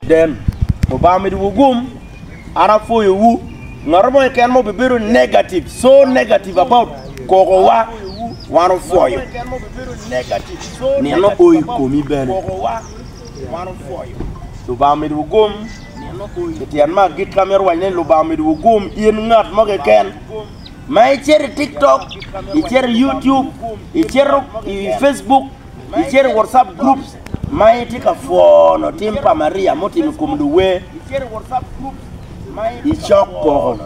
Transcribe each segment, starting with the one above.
Den. Lubanga omedo wugum, an apwoyo wu. Ngat mo keken mo bibedo negative, so negative about koko wa, wan opwoyo. Nino oyi komi bene. Lubanga omedo wugum, i tyen ma agit ka mito wac ni Lubanga omedo wugum, in ngat mo keken. Ma icito i TikTok, icito i YouTube, icito i Facebook, icito i WhatsApp groups, ma itye ka pwono tim pa Maria mutimo i kom luwer icok koko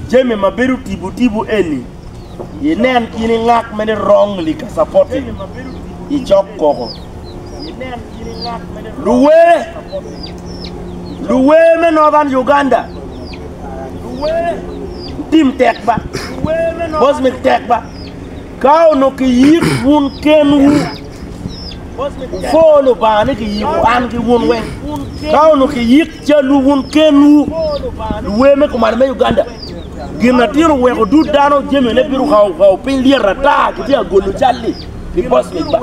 jami ma bedo tibu tibu eni, inen kin i ngak mene wrongly ka supporting icok koko. Luwer luwer me Northern Uganda tim tek ba, bosmik tek ba. Ka onongo kiyik wun kenwu, wupwo Lubanga ni kiyiko an ki wun weng. Ka onongo kiyik calwu wun kenwu, luwer me kuman me Uganda, gin atir oweko dud dano jamine bino kawo piny lyet ata kitye ka golo cal-li pi post mic ba.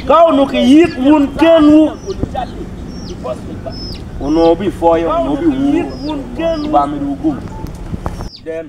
Ka onongo kiyik wun kenwu, onongo wubipwoyo, onongo wubiwuro, Lubanga omedo wugum.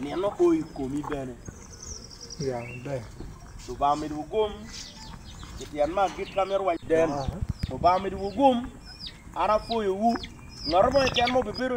nino o i komi bene. Ya maber. Lubanga omedo wugum i tyen ma agit ka mito waco den. Lubanga omedo wugum. An apwoyowu. Ngat mo keken ma obibedo